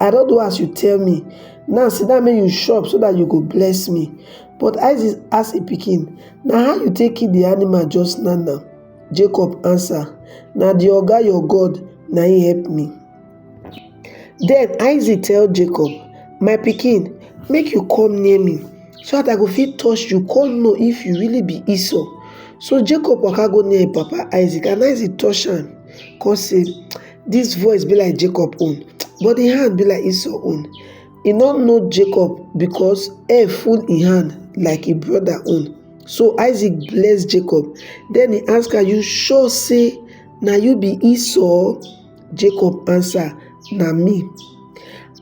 I don do as you tell me, now sit down make you chop so that you go bless me. But Isaac ask im pikin, Na how you take kill the animal just now now? Jacob answer, Na the Oga your God na im help me. Then Isaac tell Jacob, My pikin, make you come near me so that I go fit touch you come know if you really be Esau. So Jacob waka go near im papa Isaac and Isaac touch am come say, Dis voice be like Jacob own, but im hand be like Esau own. E no know Jacob because hair full im hand like im brother own. So Isaac bless Jacob. Then he ask am, You sure say na you be Esau? Jacob answer, Na me.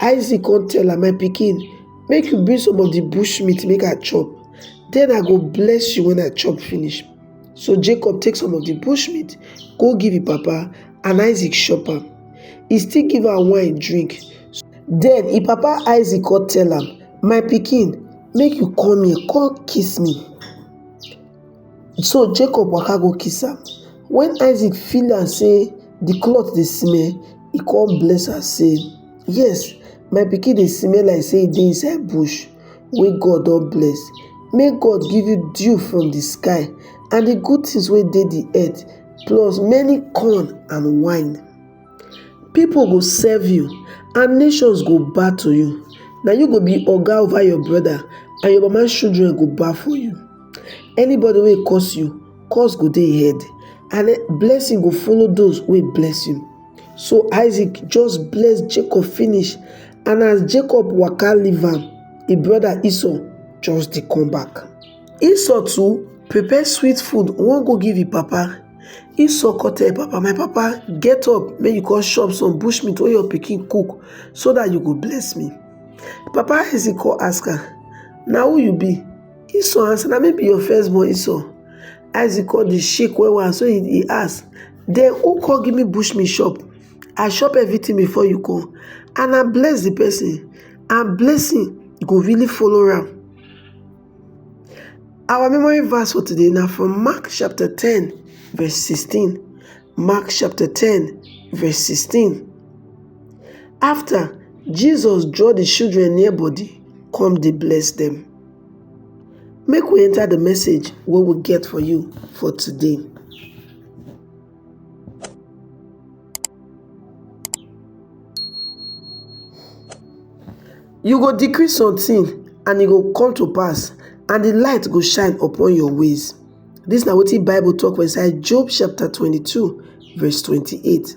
Isaac come tell am, My pikin, make you bring some of the bush meat make I chop. Then I go bless you when I chop finish. So Jacob take some of the bush meat, go give him papa, and Isaac chop am. He still give am wine drink. Then him papa Isaac come tell am, My pikin, make you come here, come kiss me. So Jacob waka go kiss am. When Isaac feel am say the cloth dey smell, he come bless am say, Yes, my pikin dey smell like say e dey inside bush. wey God don bless, make God give you dew from the sky and the good things wey dey the earth, plus many corn and wine. People go serve you and nations go bow to you. Na you go be oga over your brother and your mama children go bow for you. Anybody wey curse you, curse go dey head and blessing go follow those wey bless you. so isaac just bless jacob finish and as jacob waka leave am e brother esau just dey come back esau too prepare sweet food wan go give e papa esau come tell e papa my papa get up make you come chop some bush meat wey your pikin cook so that you go bless me papa isaac come ask am na who you be esau answer na me be your firstborn esau isaac come dey shake well well so he ask den u kon giv mi bushmilk shop i shop evritin bifor yu kom and i bless di pesin and blessing go rily follow am awa memory verse for today na from mark chapta ten vess sixteen mark chapta ten vess sixteen afta jisus draw di shidren near bodi kom dey bless dem mek wi enta di message wey wi get for yu for today You go decree something and e go come to pass and the light go shine upon your ways. This na wetin Bible talk for inside Job chapter 22 verse 28.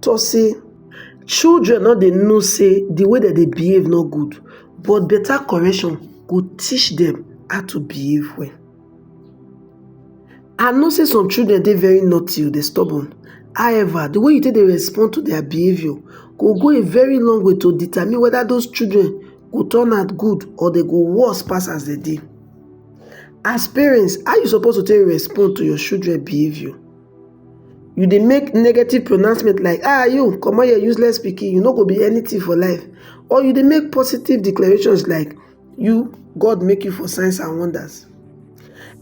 tok say children don dey know say di way dem dey behave no good but better correction go teach dem how to behave well. I know say some children dey very naughty o, dey stubborn. However, the way you take dey respond to their behavior go go a very long way to determine whether those children go turn out good or they go worse pass as they dey. As parents, how you suppose to take respond to your children behavior? you dey make negative pronouncement like ah you comot here useless pikin you no go be anything for life or you dey make positive declarations like you God make you for signs and wonders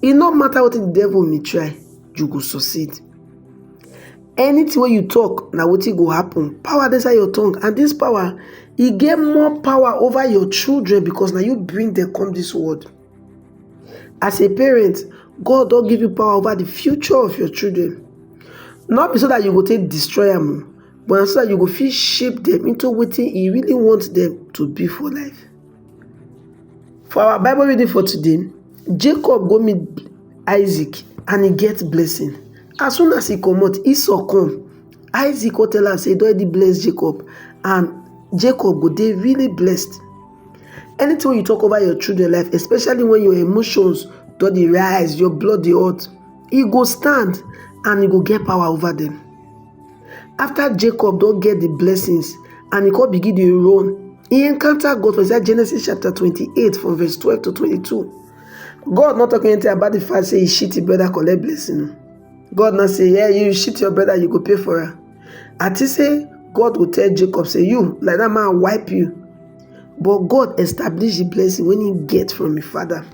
e no matter wetin the devil may try you go succeed anything wey you talk na wetin go happen power dey inside your tongue and this power e get more power over your children because na you bring them come this world As a parent, God don give you power over the future of your children. Not be so that you go take destroy them, oh, but so that you go fit shape them into what you really want them to be for life. For our Bible reading for today, Jacob go meet Isaac and he gets blessing. As soon as he come out, Esau come. Isaac go tell am say e don already bless Jacob and Jacob go dey really blessed. Anything wey you talk over your children life, especially when your emotions don dey rise, your blood dey hot, e go stand and e go get power over them. After Jacob don get the blessings and e come begin dey run, e encounter God for inside Genesis chapter 28 from verse 12 to 22. God not talk anything about the fact say he shit his brother collect blessing. God not say, yeah, you shit your brother, you go pay for her. and think say God go tell Jacob say you like that man wipe you but God establish the blessing when he get from his father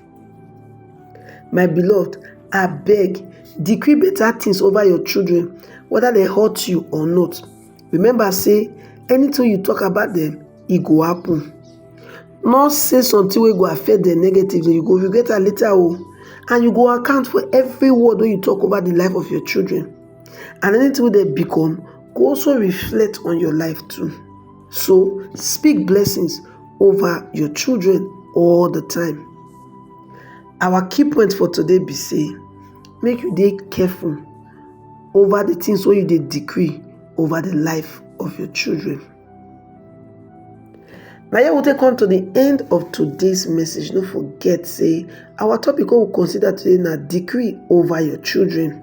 my beloved I beg decree better things over your children whether they hurt you or not remember say anything you talk about them it e go happen not say something will go affect them negatively you go regret am later o oh. and you go account for every word when you talk over the life of your children And anything wey dem become go also reflect on your life too. So speak blessings over your children all the time. Our key point for today be say make you dey careful over the things wey you dey decree over the life of your children. Na here we take come to the end of today's message. No forget say our topic wey we consider today na decree over your children.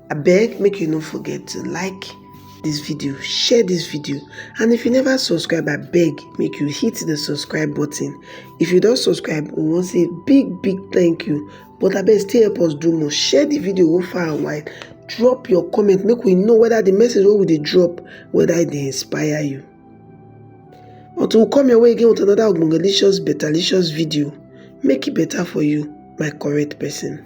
I beg make you no forget to like this video, share this video and if you never subscribe I beg make you hit the subscribe button. If you don't subscribe we wan say big big thank you but I beg still help us do more, share the video go far and wide, drop your comment make we know whether the message wey we dey drop whether it e dey inspire you. Until we come your way again with another ogbongelicious betalicious video make it e better for you my correct person.